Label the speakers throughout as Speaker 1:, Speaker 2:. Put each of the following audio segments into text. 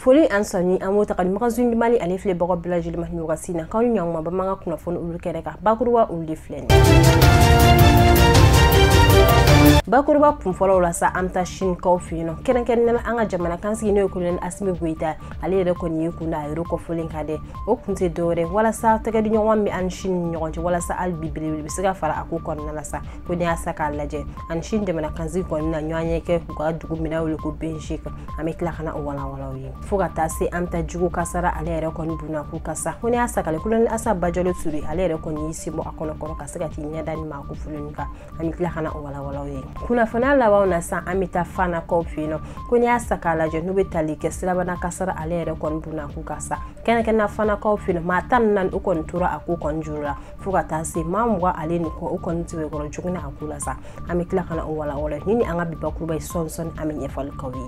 Speaker 1: foli an sɔnni an b'o ta ka di magazine du mali ale filɛbaga bɛɛ lajɛlen ma nin wagati na k'aw ni ɲɔgɔnma bamanankan kunnafoni olu kɛnɛ kan bakuruba olu de filɛ nin bakuruba kunfɔlɔw la sa an bɛ taa sinikaw fɛ yen nɔ kɛrɛnkɛrɛnnenya la an ka jamanakuntigi n'o ye kolonɛli asimi goyita ale yɛrɛ kɔni ye kun da yɔrɔ kofɔlen kan dɛ o kun tɛ dɔwɛrɛ walasa tɛgɛ di ɲɔgɔn bɛ an ni sini ɲɔgɔn cɛ walasa hali bi belebele bɛ se ka fara a ko kɔnɔna la sa ko n'i y'a ta k'a lajɛ a ni sini jamanakuntigi kɔni na ɲɔgɔnye kɛ u ka dugu min bɛ wele ko beijing kan an bɛ tila ka na o walawala aw ye fo ka taa se an bɛ taa jiko kasara ale yɛrɛ kɔni dunna ko kan sa ko n'i y'a ta k'a lajɛ kolonɛli asa bajalo ture ale yɛrɛ kɔni y'i sen bɔ a kɔnɔ kɔrɔ ka se ka k'i ɲɛ da nin maa kofɔlenw kan an bɛ tila ka na o walawala aw ye kunnafoni laban na sa an bɛ taa fanakaw fɛ yen nɔ ko n'i y'a ta k'a lajɛ n'o bɛ tali kɛ sirabana kasara ale yɛrɛ kɔni dunna ko kan sa kɛrɛnkɛrɛnnenya la fanakaw fɛ yen nɔ maa tan ni naani o kɔni tora a ko kɔni juru la fo ka taa se maa mugan ale nin kɔ o kɔni tɛmɛ kɔrɔ joginna a ko la sa an bɛ tila ka na o walawala nin ye an ka bi bakuruba ye sɔɔni sɔɔni an bɛ ɲɛfɔli k'aw ye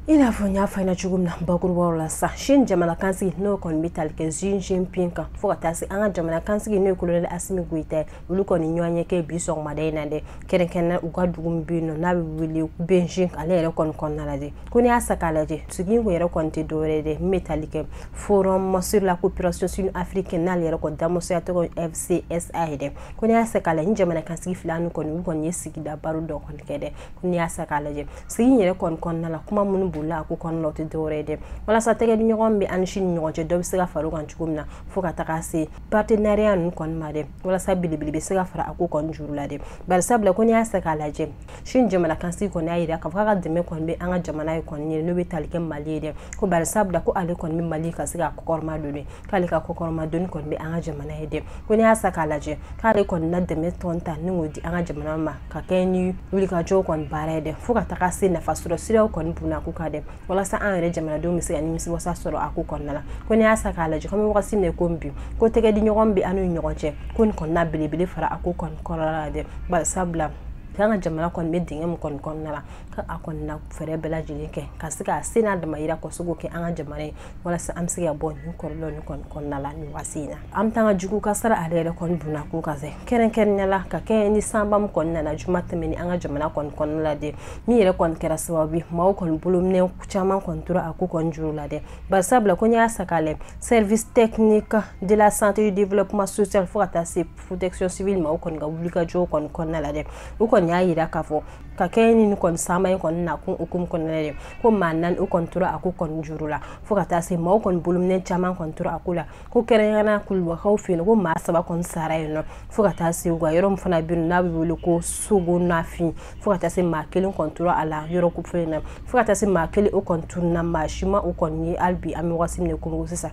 Speaker 1: i n'a fɔ n y'a fɔ ɲɛna cogo min na bakurubaw la sisan sini jamanakuntigi n'o kɔni bɛ tali kɛ xi jinping kan fo ka taa se an ka jamanakuntigi n'o ye kolonɛli asimi goyita ye olu kɔni ɲɔgɔnye kɛ bi sɔgɔmada in na dɛ kɛrɛnkɛrɛnnenya u ka dugu min bɛ yen nɔ n'a bɛ wele beijing ale yɛrɛ kɔni kɔnɔna la dɛ ko n'i y'a ta k'a lajɛ sigi in kun yɛrɛ kɔni tɛ dɔwɛrɛ ye dɛ min bɛ tali kɛ forum sur la coopération sino-africaine n'ale yɛrɛ kɔni damusaya tɔgɔ fcsa ye dɛ ko n'i y'a ta k'a lajɛ nin jamanakuntigi fila ninnu kɔni olu kɔni ye sigikabaro dɔ kɔni kɛ dɛ n'i y'a ta k'a lajɛ sigi in yɛrɛ kɔni kɔnɔna la kuma minnu bolila a ko kɔnɔna o tɛ dɔwɛrɛ ye dɛ walasa tɛgɛ di ɲɔgɔn bɛ an ni sini ɲɔgɔn cɛ dɔ bɛ se ka fara o kan cogo min na fo ka taga se partenariat ninnu kɔni ma dɛ walasa belebele bɛ se ka fara a ko kɔni juru la dɛ bari sabula ko n'i y'a ta k'a lajɛ sini jamanakuntigi kɔni y'a jira k'a fɔ k'a ka dɛmɛ kɔni bɛ an ka jamana ye kɔni ye n'o bɛ tali kɛ mali ye dɛ ko bari sabula ko ale kɔni bɛ mali ka se ka kɔkɔrɔma don dɛ k'ale ka kɔkɔrɔmadonni kɔni bɛ an ka jamana ye dɛ ko n'i y'a ta k'a lajɛ k'ale kɔni na dɛmɛ dɔ ta ni k'o di an ka jamana ma ka kɛɲɛ ni wulikajɔw kɔni baara ye dɛ fo ka taga se nafa sɔrɔ siraw kɔni dunna ko kan dɛ walasa an yɛrɛ jamanadenw bɛ se ka nimisiwasa sɔrɔ a ko kɔnɔna la ko n'i y'a ta k'a lajɛ kɔmi wagati min ko bi ko tɛgɛ di ɲɔgɔn bɛ an ni ɲɔgɔn cɛ ko nin kɔni na belebele fara a ko kɔni kɔrɔla la dɛ bari sabula k'an ka jamana kɔni bɛ dingɛ min kɔni kɔnɔna la k'a kɔni na fɛɛrɛ bɛɛ lajɛlen kɛ ka se k'a se n'a damayira kɔsɛbɛ kɛ an ka jamana ye walasa an bɛ se ka bɔ nin kɔlɔlɔ nin kɔni kɔnɔna la nin waati in na an bɛ taa jiko kasara ale yɛrɛ kɔni dunna ko kan sa kɛrɛnkɛrɛnnenya la ka kɛɲɛ ni sanba min kɔni nana juma tɛmɛnen an ka jamana kɔni kɔnɔna la dɛ min yɛrɛ kɔni kɛra sababu ye maaw kɔni bolominɛn caman kɔni tora a ko kɔni juru la dɛ bari sabula ko n'i y'a ta k'a lajɛ service technique de la santé du développement social fo ka taa se protection civile ma o kɔni ka wulikajɔw kɔni kɔnɔna la dɛ u kɔni y'a yira k'a fɔ ka kɛɲɛ ni nin kɔni sanba in kɔni na kun hukumu kɔnɔna de ko maa naani o kɔni tora a ko kɔni juru la fo ka taa se maaw kɔni bolominɛn caman kɔni tora a ko la ko kɛrɛnkɛrɛnnenya kulubakaw fɛ yen ko maa saba kɔni sara yen nɔ fo ka taa se u ka yɔrɔ min fana bɛ yen n'a bɛ wele ko sogonafin fo ka taa se maa kelen kɔni tora a la yɔrɔ ko fɛn na fo ka taa se maa kelen o kɔni tununna maa si ma o kɔni ye hali bi an bɛ wagati min na komi sisan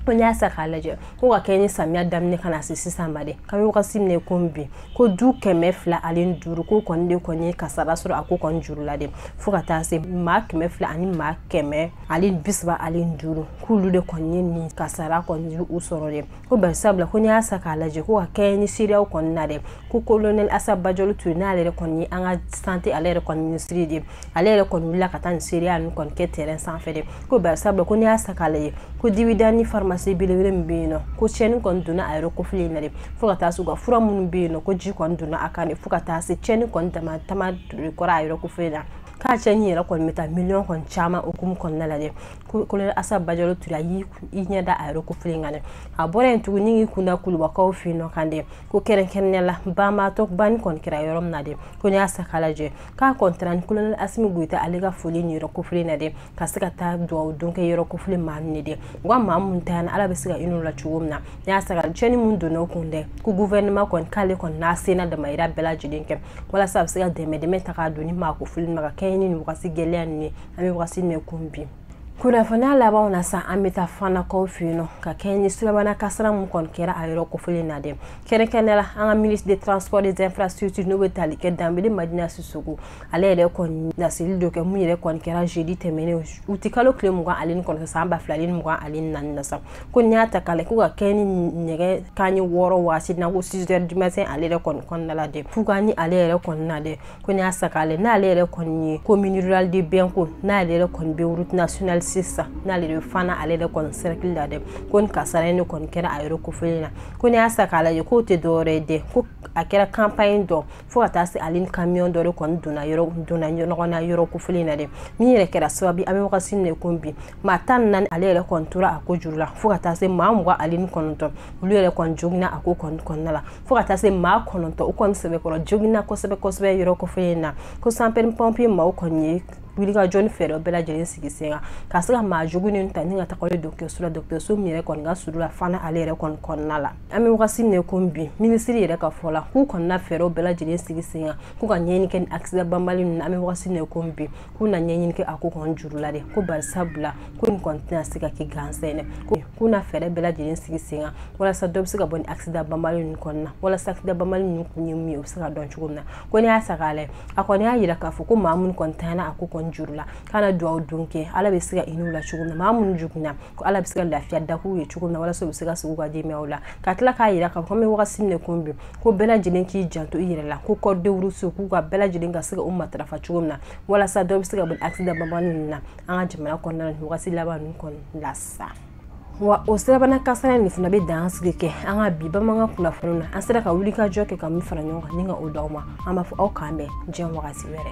Speaker 1: ko n'i y'a sa k'a lajɛ ko ka kɛɲɛ ni samiya daminɛ ka na se sisan ma dɛ an bɛ wagati min na komi bi ko du kɛmɛ fila ani duuru k'o kɔni de kɔni ye kasara sɔrɔ a ko kɔni juru la de fo ka taa se maa kɛmɛ fila ani maa kɛmɛ ani bisaba ani duuru k'olu de kɔni ye nin kasara kɔni u sɔrɔ de ko bari sabula ko n'i y'a sa k'a lajɛ ko ka kɛɲɛ ni seereyaw kɔni na dɛ ko kolonɛli asa bajalo ture n'ale yɛrɛ kɔni ye an ka sante ale yɛrɛ kɔni minisiri de ale yɛrɛ kɔni wulila ka taa nin seereya ninnu kɔni kɛ terrain sanfɛ dɛ ko bari sabula ko n'i y'a sa k'a lajɛ ko dibidani pharmacie belebele min bɛ yen nɔ ko tiɲɛni kɔni donna a yɔrɔ kofɔlen in na dɛ fo ka taa se u ka fura minnu bɛ yen nɔ ko ji kɔni donna a kan de fo ka taa se tiɲɛni kɔni dama dama de kɛra a yɔrɔ kofɔlen na k'a tiɲɛni yɛrɛ kɔni bɛ taa miliyɔn kɔni caman hukumu kɔnɔna la dɛ kolonɛli asa bajalo ture a y'i ɲɛ da a yɔrɔ kofɔlen kan dɛ a bɔra yen tuguni k'i kun da kulubakaw fɛ yen nɔ kan dɛ ko kɛrɛnkɛrɛnnenya la banbaatɔ banni kɔni kɛra yɔrɔ min na dɛ ko n'i y'a sa k'a lajɛ k'a kɔni taara ni kolonɛli asimi goyita ale ka foli ye yɔrɔ kofɔlen na dɛ ka se ka taa duwawu don kɛ yɔrɔ kofɔlen maaw ye dɛ wa maa min taara ala bɛ se ka hinɛ u la cogo min na n'i y'a sɔrɔ tiɲɛni min donna u kun dɛ ko guvɛrɛnɛma kɔni k'ale kɔni n'a se n'a damayira bɛɛ lajɛlen kɛ walasa a bɛ se ka dɛmɛ dɛmɛ ta k'a don nin maa kofɔlen ma ka kɛɲɛ ni nin wagati gɛlɛya nin ye an bɛ wagati min komi bi kunnafoni labanw na sa an bɛ taa fanakaw fɛ yen nɔ ka kɛɲɛ ni sulemana kasara min kɔni kɛra a yɔrɔ kofɔlen na dɛ kɛrɛnkɛrɛnnenya la an ka ministre de transport des infrastructures n'o bɛ tali kɛ danbele madina sisoko ale yɛrɛ kɔni laseli dɔ kɛ min yɛrɛ kɔni kɛra jeudi tɛmɛnen uti kalo tile mugan ale ni kɔnɔntɔn san ba fila ni mugan ale ni naani na sa ko n'i y'a ta k'a lajɛ ko ka kɛɲɛ ni nɛgɛ kanɲɛ wɔɔrɔ waati na ko six heures du matin ale yɛrɛ kɔni kɔnɔna la dɛ fo ka ni ale yɛrɛ kɔnɔna dɛ ko n'i y'a sa k'a lajɛ n'ale yɛrɛ kɔni ye commune rural de binko n'ale yɛrɛ kɔni bɛ route nationale six n'ale de fana ale yɛrɛ kɔni cercle la dɛ ko nin kasara yɛrɛ kɔni kɛra a yɔrɔ kofɔlen na ko n'i y'a sa k'a lajɛ k'o tɛ dɔwɛrɛ ye dɛ ko a kɛra compagnie dɔ fo ka taa se ale ni camion dɔ de kɔni donna yɔrɔ donna ɲɔgɔn na yɔrɔ kofɔlen na dɛ min yɛrɛ kɛra sababu an bɛ wagati min na ko bi maa tan ni naani ale yɛrɛ kɔni tora a ko juru la fo ka taa se maa mugan ale ni kɔnɔntɔn olu yɛrɛ kɔni joginna a ko kɔni kɔnɔna la fo ka taa se maa kɔnɔntɔn o kɔni sɛbɛkɔrɔ joginna kosɛbɛ kosɛbɛ yɔrɔ kofɔlen na ko sapɛri pɔnpiye maaw kɔni ye wulikajɔ ni fɛɛrɛ bɛɛ lajɛlen sigi sen kan ka se ka maa joginnen ta ni ka taga ale dɔkɔtɔrɔso la dɔkɔtɔrɔso min yɛrɛ kɔni ka surun na fana ale yɛrɛ kɔni kɔnɔna la an bɛ wagati min ko bi minisiri yɛrɛ ka fɔ la k'u kɔnɔna fɛɛrɛw bɛɛ lajɛlen sigi sen kan k'u ka ɲɛɲini kɛ nin akisidan banbali ninnu an bɛ wagati min ko bi k'u na ɲɛɲini kɛ a ko kɔni juru la dɛ ko bari sabula ko nin kɔni tɛna se ka kɛ gansan dɛ ko k'u na fɛɛrɛ bɛɛ lajɛlen sigi sen kan walasa dɔ bɛ se ka bɔ nin akisidan banbali ninnu kɔnɔna walasa akisidan banbali ninnu kun ye mun ye o bɛ se ka dɔn cogo min na ko n'i y'a saga lajɛ a kɔni y'a yira k'a fɔ ko maa minnu kɔni ntanyana a ko kɔni juru la k'a na dugawu don kɛ ala bɛ se ka hinɛ u la cogo min na maa minnu joginna ko ala bɛ se ka lafiya daga u ye cogo min na walasa u bɛ se ka segin u ka denbayaw la ka tila k'a yira k'a fɔ an bɛ wagati min na ko bi ko bɛɛ lajɛlen k'i janto i yɛrɛ la ko code de route k'u ka bɛɛ lajɛlen ka se ka o matarafa cogo min na walasa dɔ bɛ se ka bɔ accident banbali ninnu na an ka jamana kɔnɔna na nin wagati laban ninnu kɔni la sa wa o sirabana kasara nin fana bɛ dan sigi kɛ an ka bi bamanankan kunnafoniw na an sera ka wulikajɔ kɛ ka min fara ɲɔgɔn kan ni ka o d'aw ma an b'a fɔ aw k'an bɛn diɲɛ wagati wɛrɛ